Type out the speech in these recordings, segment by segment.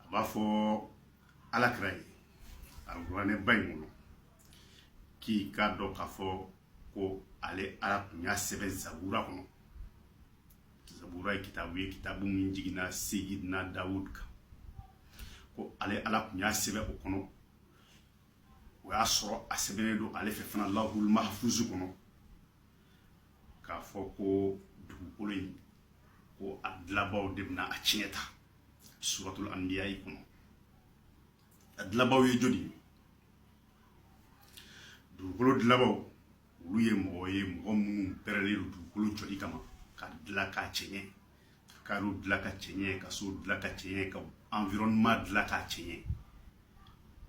a b'a fɔ ala kira ye alkuranɛ ba in kɔnɔ k'i k'a dɔn k'a fɔ ko ale ala tun y'a sɛbɛn zabura kɔnɔ zabura ye kitabu ye kitabu min jiginna seyidina dawud kan ko ale ala tun y'a sɛbɛn o kɔnɔ o y'a sɔrɔ a sɛbɛnnen don ale fɛ fana lahul mahfuzu kɔnɔ k'a fɔ ko dugukolo in ko a dilabaw de bɛna a tiɲɛ ta suratul anbiyai kɔnɔ a dilabaw ye jɔni ye dugukolo dilabaw olu ye mɔgɔ ye mɔgɔ minnu pɛrɛlen don dugukolo jɔli kama k'a dila k'a cɛɲɛ ka yɔrɔ dilan k'a cɛɲɛ ka so dilan k'a cɛɲɛ ka environnement dilan k'a cɛɲɛ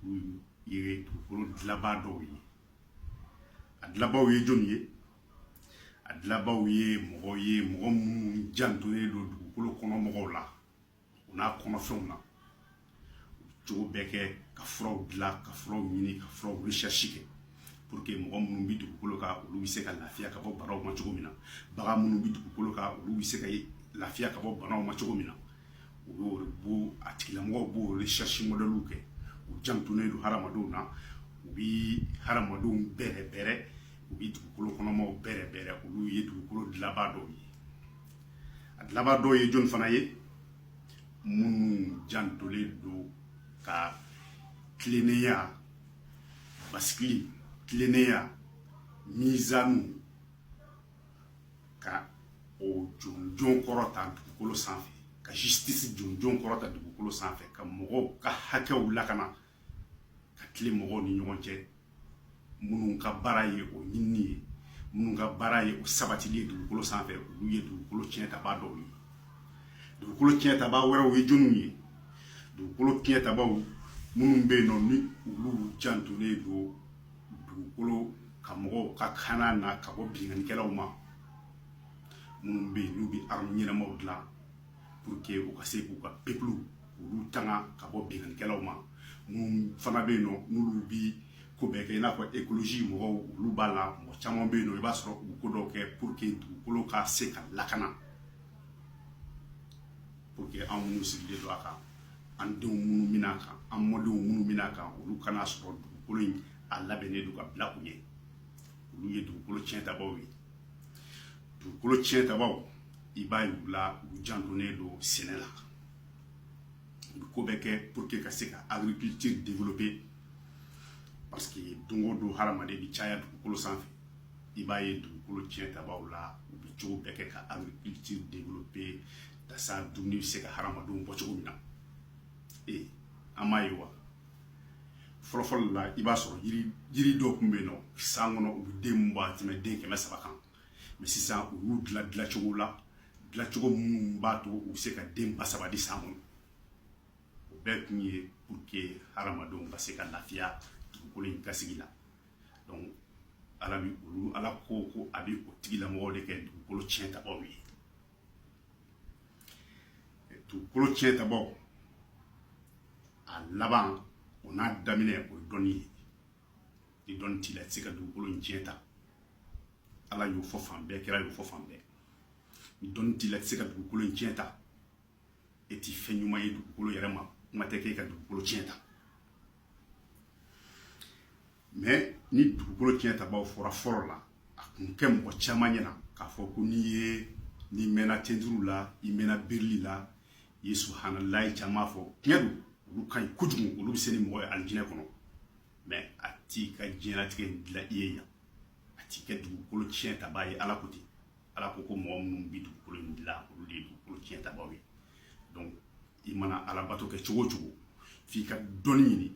olu ye dugukolo dilanbaa dɔw ye a dilanbaaw ye jɔni ye a dilanbaaw ye mɔgɔ ye mɔgɔ minnu jantolen don dugukolo kɔnɔ mɔgɔw la u n'a kɔnɔfɛnw na cogo bɛɛ kɛ ka furaw dilan ka furaw ɲini ka furaw recherche kɛ pour que mɔgɔ minnu bɛ dugukolo kan olu bɛ se ka lafiya ka bɔ banaw ma cogo min na bagan minnu bɛ dugukolo kan olu bɛ se ka lafiya ka bɔ banaw ma cogo min na u y'o de bo a tigilamɔgɔw b'o recherche modèlew kɛ u jantonnen don hadamadenw na u bɛ hadamadenw bɛrɛbɛrɛ u bɛ dugukolo kɔnɔmaw bɛrɛbɛrɛ olu ye dugukolo dilanbaa dɔw ye a dilanbaa dɔw ye jɔni fana ye minnu jantolen don ka tilennenya basigili tilennenya mizanu ka o jɔnjɔn kɔrɔta dugukolo sanfɛ ka justice jɔnjɔn kɔrɔta dugukolo sanfɛ ka mɔgɔw ka hakɛw lakana ka tilen mɔgɔw ni ɲɔgɔn cɛ minnu ka baara ye o ɲinini ye minnu ka baara ye o sabatili ye dugukolo sanfɛ olu ye dugukolo tiɲɛtaba dɔw ye dugukolo tiɲɛtaba wɛrɛw ye jɔniw ye dugukolo tiɲɛtabaw minnu bɛ yen nɔ ni olu jantolen don dugukolo ka mɔgɔw ka kana na ka bɔ binkannikɛlaw ma minnu bɛ yen n'u bɛ arme ɲɛnamaw dilan pour que u ka se k'u ka peuple k'olu tanga ka bɔ binkannikɛlaw ma minnu fana bɛ yen nɔ n'olu bi ko bɛɛ kɛ i n'a fɔ écologie mɔgɔw olu b'a la mɔgɔ caman bɛ yen nɔ i b'a sɔrɔ u bɛ ko dɔw kɛ pour que dugukolo ka se ka lakana pour que an minnu sigilen don a kan an denw minnu bɛ na a kan an mɔdenw minnu bɛ na a kan olu ka n'a sɔrɔ dugukolo in a labɛnnen don ka bila u ɲɛ olu ye dugukolo tiɲɛtabaaw ye dugukolo tiɲɛtabaaw i b'a ye u la u jantonnen don sɛnɛ la u bɛ ko bɛɛ kɛ pour que ka se ka agriculture développer parce que don o don hadamaden bɛ caya dugukolo sanfɛ i b'a ye dugukolo tiɲɛ tabaw la u bɛ cogo bɛɛ kɛ ka agriculture développer tasa dumuni bɛ se ka hadamadenw bɔ cogo min na ee an m'a ye wa fɔlɔfɔlɔ la i b'a sɔrɔ yiri yiri dɔw tun bɛ yen nɔ san kɔnɔ u bɛ den min bɔ a tɛmɛ den kɛmɛ saba kan mais sisan u y'u dila dilacogo la dilacogo minnu b'a to u bɛ se ka den ba saba di san kɔnɔ o bɛɛ kun ye pour que hadamadenw ka se ka lafiya dugukolo in kan sigi la donc ala bi olu ala ko ko a bɛ o tigilamɔgɔw de kɛ dugukolo tiɲɛ tabaaw ye dugukolo tiɲɛ tabaaw a laban o n'a daminɛ o ye dɔnni ye ni dɔnni t'i la i tɛ se ka dugukolo in tiɲɛ ta ala y'o fɔ fan bɛɛ kira y'o fɔ fan bɛɛ ni dɔnni t'i la i tɛ se ka dugukolo in tiɲɛ ta e ti fɛn ɲuman ye dugukolo yɛrɛ ma kuma tɛ k'e ka dugukolo tiɲɛ ta mais ni dugukolo tiɲɛ tabaw fɔra fɔlɔ la a kun kɛ mɔgɔ caman ɲɛna k'a fɔ ko n'i ye n'i mɛnna tenturu la i mɛnna birili la i ye subhanallahi caman fɔ tiɲɛ don olu ka ɲi kojugu olu bɛ se ni mɔgɔ ye alijinɛ kɔnɔ mais a t'i ka diɲɛlatigɛ dilan i ye yan a t'i kɛ dugukolo tiɲɛ tabaa ye ala ko ten ala ko ko mɔgɔ minnu bɛ dugukolo in dilan olu de ye dugukolo tiɲɛ tabaaw ye donc i mana ala bato kɛ cogo o cogo f'i ka dɔnni ɲini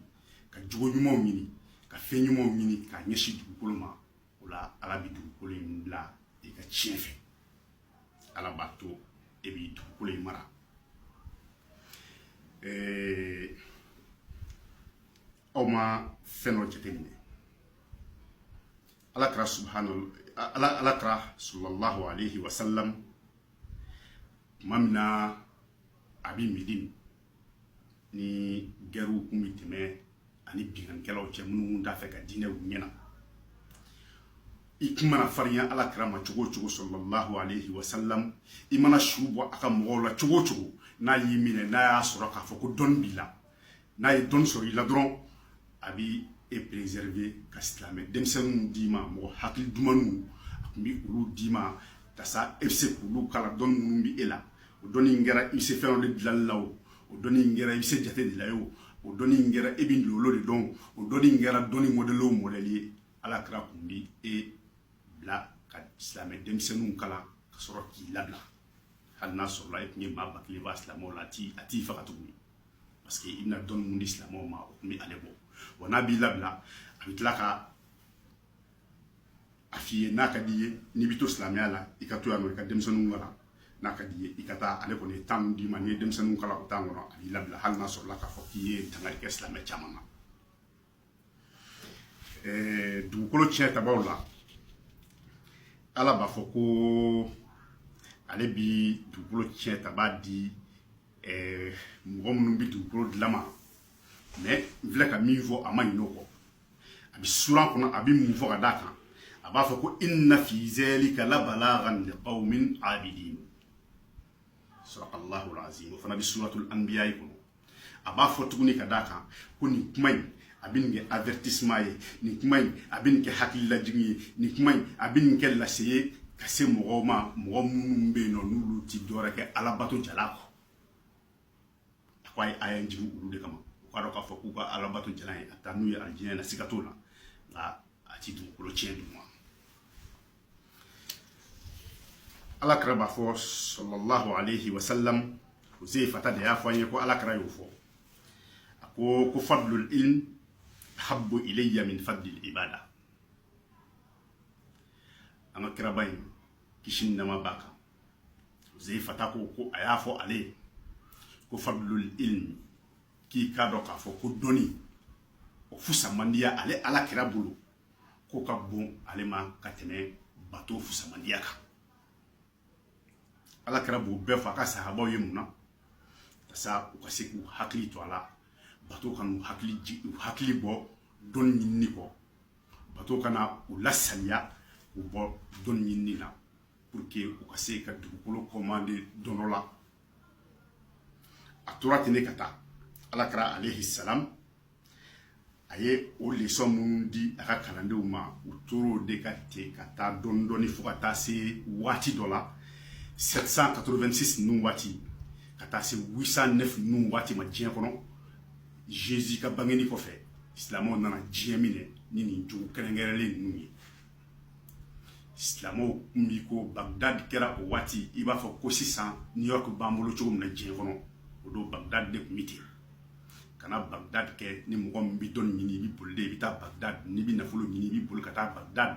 ka jogo ɲumanw ɲini ka fɛn ɲumanw ɲini ka ɲɛsin dugukolo ma o la ala bɛ dugukolo in bila i ka tiɲɛ fɛ ala b'a to e bi dugukolo in mara ee, aw ma fɛn dɔ jateminɛ ala kira subhana ala ala kira sallallahu alaihi wasallam tuma min na a bɛ medine ni gɛrɛw kun bɛ tɛmɛ a ni binkannikɛlaw cɛ minnu t'a fɛ ka diinɛ ɲɛ na i kun mana farinya ala kira ma cogo o cogo sallallahu alaihi wasallam i mana su bɔ a ka mɔgɔw la cogo o cogo n'a y'i minɛ n'a y'a sɔrɔ k'a fɔ ko dɔnni b'i la n'a ye dɔnni sɔrɔ i la dɔrɔn a bi e préserver ka silamɛ denmisɛnninw d'i ma mɔgɔ hakili dumanw a kun bɛ olu d'i ma tasa e bɛ se k'olu kalan dɔnni minnu bɛ e la o dɔnni in kɛra i bɛ se fɛn dɔ de dilanli la o o dɔnni in kɛra i bɛ se jate de la ye o o dɔnni in kɛra e bɛ lolo de dɔn o dɔnni in kɛra dɔnni modèle o modèle ye ala kira kun bɛ e bila ka silamɛ denmisɛnninw kalan ka sɔrɔ k'i labila hali n'a sɔrɔla e tun ye maa ba kelen ban silamɛw la a t'i a t'i faga tuguni parce que i bɛna dɔnni min di silamɛw ma o tun bɛ ale bɔ wa n'a b'i labila a bɛ tila ka a f'i ye n'a ka d'i ye n'i bɛ to silamɛya la i ka to yan nɔ i ka denmisɛnninw kalan n'a ka d'i ye i ka taa ale kɔni ye temps d'i ma n'i ye denmisɛnninw kalan o temps kɔnɔ a b'i labila hali n'a sɔrɔla k'a fɔ k'i ye dankari kɛ silamɛ caman na dugukolo tiɲɛtabaw la ala b'a fɔ ko ale bi dugukolo tiɲɛtaba di mɔgɔ minnu bɛ dugukolo dilan ma mais n filɛ ka min fɔ a ma ɲin'o kɔ a bɛ suran kɔnɔ a bɛ mun fɔ ka d'a kan a b'a fɔ ko inna fi zalika la balaghan li qaumin abidin sadaqallahu alazim o fana bɛ suratul anbiya kɔnɔ a b'a fɔ tuguni ka d'a kan ko nin kuma in a bɛ nin kɛ avertissement ye nin kuma in a bɛ nin kɛ hakililajigin ye nin kuma in a bɛ nin kɛ lase ye ka se mɔgɔw ma mɔgɔ minnu bɛ yen nɔ n'olu ti dɔwɛrɛ kɛ alabato jala kɔ k'a ye aya in jigin olu de kama u k'a dɔn k'a fɔ k'u ka alabato jalan ye a taa n'u ye alijinɛ na siga t'o la nka a ti dugukolo tiɲɛ d'u ma ala kira b'a fɔ sallallahu alayhi wa sallam huzaifata de y'a fɔ an ye ko ala kira y'o fɔ a ko ko fadlul ilm habbu ilayya min fadlil ibada an ka kiraba in kisi ni nɛɛma b'a kan huzaifata ko ko a y'a fɔ ale ye ko fadlul ilm k'i k'a dɔn k'a fɔ ko dɔnni o fusamandiya ale ala kira bolo k'o ka bon ale ma ka tɛmɛ bato fusamandiya kan ala kira b'o bɛɛ fɔ a ka sahabaw ye mun na tasa u ka se k'u hakili to a la bato kan'u hakili bɔ dɔnni ɲinini kɔ bato kana u lasaliya k'u bɔ dɔnni ɲinini na pour que u ka se ka dugukolo commander dɔnɔ la a tora ten ne ka taa ala kira alayhi salam a ye o leçon minnu di a ka kalandenw ma u tor'o de kan ten ka taa dɔɔni dɔɔni fo ka taa se waati dɔ la 786 ninnu waati ka taa se 809 ninnu waati ma diɲɛ kɔnɔ jésus ka bangeni kɔfɛ silamɛw nana diɲɛ minɛ ni nin jogo kɛrɛnkɛrɛnlen ninnu ye silamɛw kun bi ko bagdad kɛra o waati i b'a fɔ ko sisan new york b'an bolo cogo min na diɲɛ kɔnɔ o don bagdad de kun bɛ ten ka na bagdad kɛ ni mɔgɔ min bɛ dɔnni ɲini i bɛ boli de i bɛ taa bagdad n'i bɛ nafolo ɲini i bɛ boli ka taa bagdad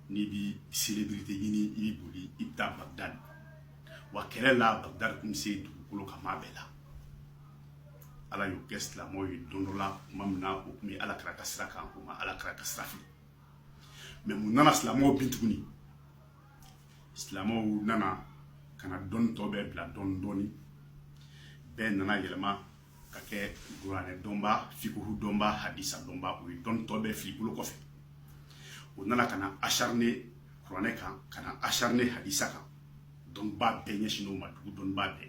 n'i bɛ célébrité ɲini i bɛ boli i bɛ taa bagdad wa kɛlɛ la bagdad kun bɛ se dugukolo kan maa bɛɛ la ala y'o kɛ silamɛw ye don dɔ la tuma min na o tun bɛ ala kira ka sira kan o ma ala kira ka sira fili mais mun nana silamɛw bin tuguni silamɛw nana ka na dɔnni tɔ bɛɛ bila dɔɔni dɔɔni bɛɛ nana yɛlɛma ka kɛ kuranɛ dɔnba fikuhu dɔnba hadisa dɔnba o ye dɔnni tɔ bɛɛ fili bolo kɔfɛ o nana ka na acharné kuranɛ kan ka na acharné hadisa kan dɔnniba bɛɛ ɲɛsinnen o ma dugu dɔnniba bɛɛ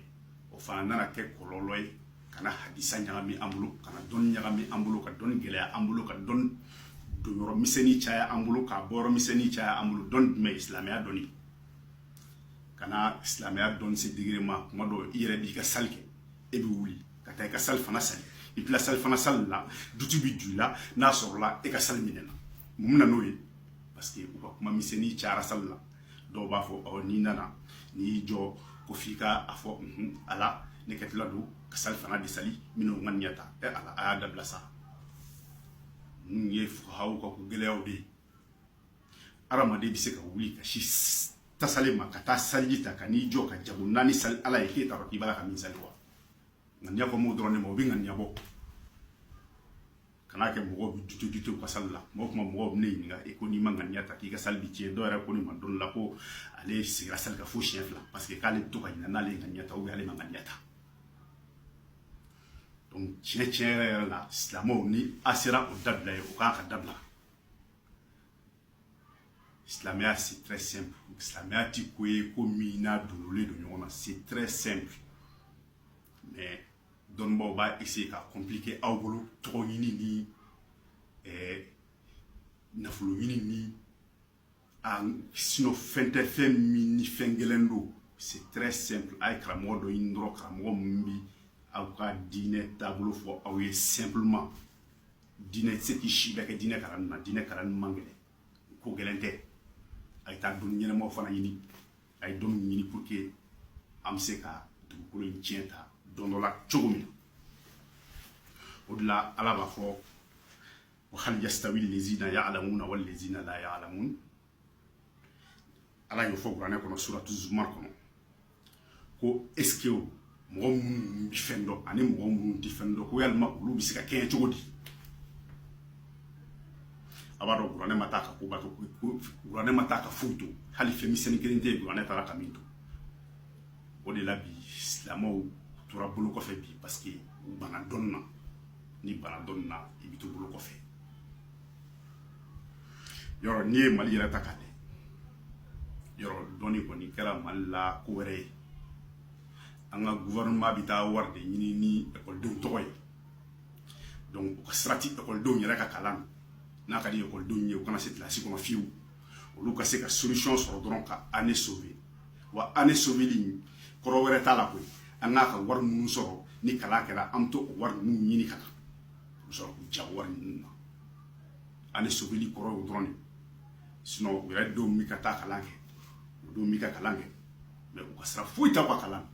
o fana nana kɛ kɔlɔlɔ ye ka na hadisa ɲagami an bolo ka na dɔnni ɲagami an bolo ka dɔnni gɛlɛya an bolo ka dɔnni don yɔrɔ misɛnnin caya an bolo k'a bɔ yɔrɔ misɛnnin caya an bolo dɔnni jumɛn ye silamɛya dɔnni ka na silamɛya dɔnni se degré ma kuma dɔw i yɛrɛ b'i ka sali kɛ e bɛ wuli ka taa i ka salifana sali i bila salifana sali la doute bɛ don i la n'a sɔrɔla e ka sali minɛna mun na n'o ye parce que u ka kuma misɛnnin cayara sali la dɔw b'a fɔ ɔ n'i nana n'i y'i jɔ ko f'i ka a fɔ nhun ala ne kɛtɔ don ka salifana de sali minnu ŋaniya ta ɛ ala a y'a dabila sa ninnu ye fukahaw ka ko gɛlɛyaw de ye adamaden bɛ se ka wuli ka sin tasale ma ka taa saliji ta ka n'i jɔ ka jago naani sali ala ye k'e t'a dɔn k'i b'a la ka min sali wa ŋaniya kan b'o dɔrɔn de ma o bɛ ŋaniya bɔ kana kɛ mɔgɔw bɛ doute doute u ka sali la mɔgɔ kuma mɔgɔw bɛ ne ɲininka e ko n'i ma ŋaniya ta k'i ka sali bi tiɲɛ dɔw yɛrɛ ko ne ma don dɔ la ko ale seginna sali kan fo siɲɛ fila parce que k'ale bɛ to ka ɲinɛ n'ale ye ŋaniya ta ale ma ŋaniya ta donc tiɲɛ tiɲɛ yɛrɛ yɛrɛ la silamɛw ni a sera o dabila ye o kan ka dabila silamɛya c'est très simple silamɛya ti ko ye ko min n'a dogolen don ɲɔgɔn na c'est très simple mais dɔnnibaaw b'a essayer k'a compliquer aw bolo tɔgɔ ɲini ni ɛɛ nafolo ɲini ni a sinon fɛn tɛ fɛn min ni fɛn gɛlɛn don c'est très simple a ye karamɔgɔ dɔ ɲini dɔrɔn karamɔgɔ min bi aw ka diinɛ taabolo fɔ aw ye simplement diinɛ tɛ se k'i si bɛɛ kɛ diinɛ kalanni na diinɛ kalanni man gɛlɛn ko gɛlɛn tɛ a ye taa dɔnni ɲɛnamaw fana ɲini a ye dɔnni ɲini pour que an bɛ se ka dugukolo in tiɲɛ ta don dɔ la cogo min na o de la ala b'a fɔ ko hal yastawi lezina ya alamuna wali lezina la ya alamun ala y'o fɔ kuranɛ kɔnɔ suratu zumar kɔnɔ ko est-ce que mɔgɔ minnu bɛ fɛn dɔn ani mɔgɔ minnu tɛ fɛn dɔn ko yalima olu bɛ se ka kɛɲɛ cogo di a b'a dɔn kuranɛ ma taa ka koba to kuranɛ ma taa ka foyi to hali fɛn misɛnnin kelen tɛ yen kuranɛ taara ka min to o de la bi silamɛw tora bolo kɔfɛ bi parce que u bana dɔnni na n'i bana dɔnni na i bɛ to bolo kɔfɛ yɔrɔ n'i ye mali yɛrɛ ta k'a lajɛ yɔrɔ dɔnni kɔni kɛra mali la ko wɛrɛ ye an ka gouvernement bɛ taa wari de ɲini ni ekɔlidenw tɔgɔ ye donc u ka sira ti ekɔlidenw yɛrɛ ka kalan na n'a ka di ekɔlidenw ye u kana se kilasi kɔnɔ fiyewu olu ka se ka solution sɔrɔ dɔrɔn ka année sauver wa année sauveli in kɔrɔ wɛrɛ t'a la koyi an ka kan ka wari minnu sɔrɔ ni kalan kɛra an bɛ to o wari ninnu ɲini ka na u bɛ sɔrɔ k'u ja wari ninnu na année sauveli kɔrɔ y'o dɔrɔn de sinon u yɛrɛ denw bɛ ka taa kalan kɛ u denw bɛ ka kalan kɛ mais u ka sira foyi t'aw ka kalan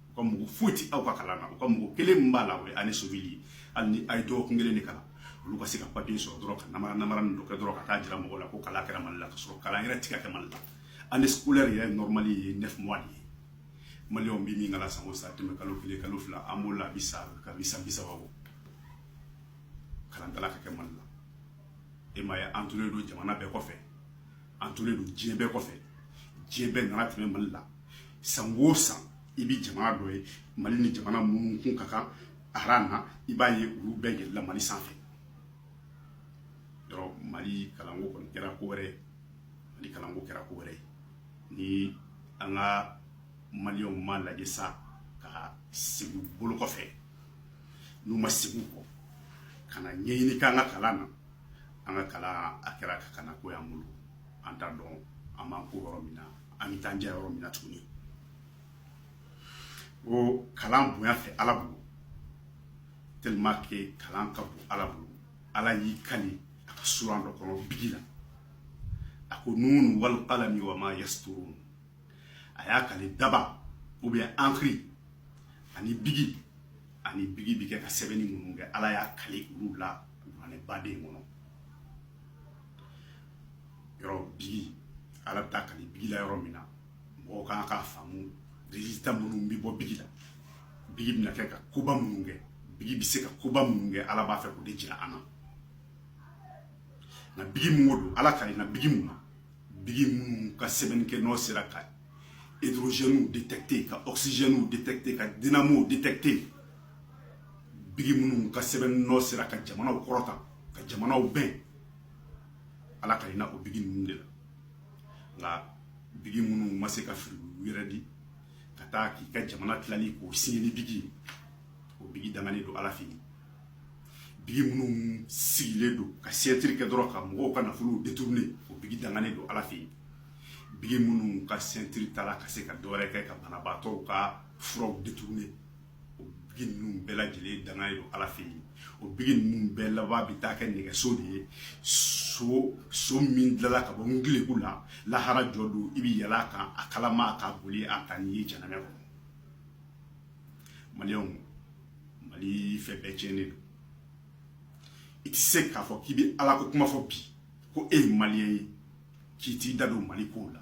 u ka mago foyi ti aw ka kalan na u ka mago kelen min b'a la o ye année sauveli ye hali ni a ye dɔgɔkun kelen de kalan olu ka se ka papiye sɔrɔ dɔrɔn ka namara namara nin dɔ kɛ dɔrɔn ka taa jira mɔgɔw la ko kalan kɛra mali la ka sɔrɔ kalan yɛrɛ ti ka kɛ mali la année scolaire yɛrɛ normal ye neuf mois de ye maliyɛnw bi min kalan san o san tɛmɛ kalo kelen kalo fila an b'o la a bi sa ka bi san bi saba bɔ kalan t'a la ka kɛ mali la e m'a ye an tolen don jamana bɛɛ kɔfɛ an tolen don diɲɛ bɛɛ kɔfɛ diɲɛ bɛɛ nana tɛmɛ mali la san o san i bɛ jamana dɔ ye mali ni jamana minnu kun ka kan aran na i b'a ye olu bɛɛ yɛlɛla mali sanfɛ yɔrɔ mali kalanko kɔni kɛra ko wɛrɛ ye mali kalanko kɛra ko wɛrɛ ye ni an ka maliyɛnw m'a lajɛ sa ka segin u bolo kɔfɛ n'u ma segin u kɔ ka na ɲɛɲini k'an ka kalan na an ka kalan a kɛra ka kana ko y'an bolo an t'a dɔn an b'an ko yɔrɔ min na an bɛ taa jɛ yɔrɔ min na tuguni ko kalan bonya fɛ ala bolo tellement que kalan ka bon ala bolo ala y'i kali a ka suran dɔ kɔnɔ bigi la a ko nun wal qalami wa ma yasturun a y'a kali daba ou bien encre ani bigi ani bigi bi kɛ ka sɛbɛnni minnu kɛ ala y'a kali olu la ani baden kɔnɔ yɔrɔ bigi ala bɛ taa kali bigi la yɔrɔ min na mɔgɔw kan k'a faamu résultat minnu bɛ bɔ bigi la bigi bɛna kɛ ka koba minnu kɛ bigi bɛ se ka koba minnu kɛ ala b'a fɛ k'o de jira an na nka bigi mun ko don ala kalenna bigi mun na bigi minnu ka sɛbɛnni kɛ nɔ sera ka hydrogènew détecter ka oxygènew détecter ka dynamow détecter bigi minnu ka sɛbɛn nɔ sera ka jamanaw kɔrɔta ka jamanaw bɛn ala kalenna o bigi ninnu de la nka bigi minnu ma se ka fili u yɛrɛ di ka taa k'i ka jamana tilali k'o signer ni bigi ye o bigi dangalen don ala fɛ yen bigi minnu sigilen don ka signature kɛ dɔrɔn ka mɔgɔw ka nafolow détourner o bigi dangalen don ala fɛ yen bigi minnu ka signature t'a la ka se ka dɔwɛrɛ kɛ ka banabaatɔw ka furaw détourner bigi ninnu bɛɛ lajɛlen dangalen don ala fɛ yen o bigi ninnu bɛɛ laban bɛ taa kɛ nɛgɛso de ye so min dilanna ka bɔ n gilegu la lahara jɔ don i bɛ yɛlɛn a kan a kalaman ka boli a taa n'i ye janamɛ kɔnɔ maliyɛnw mali fɛn bɛɛ tiɲɛnen don i tɛ se k'a fɔ k'i bɛ ala ko kuma fɔ bi ko e ye maliyɛn ye k'i t'i da don mali kow la